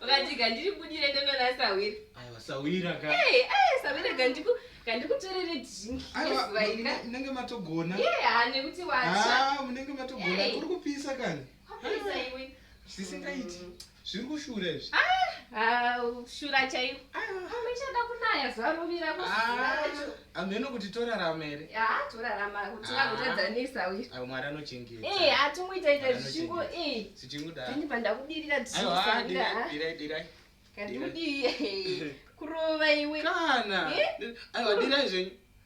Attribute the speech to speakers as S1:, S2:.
S1: ukatika ndiri budire ndonona sawira aiwa sawira ka
S2: hey, hey, sawira gandiku
S1: ngandikutorere dhinkizuva iri
S2: munenge matogona yeha nekuti wacha
S1: ah, munenge matogona
S2: kuri kupisa kani
S1: zvisingaiti mm.
S2: zviri kushura izvi ah,
S1: shura chaiyo amechada kunaya zuva rovira amheno ah, kuti
S2: torarama here ah, torarama kuti
S1: vagotadzanisa uyu mwari anochengeta
S2: eh, hatingoita ita
S1: zvichingo eh. zvichingodiini
S2: pandakudirira
S1: tiirai
S2: kandikudii
S1: kurova iwe kana eh?
S2: aiwa dirai zvenyu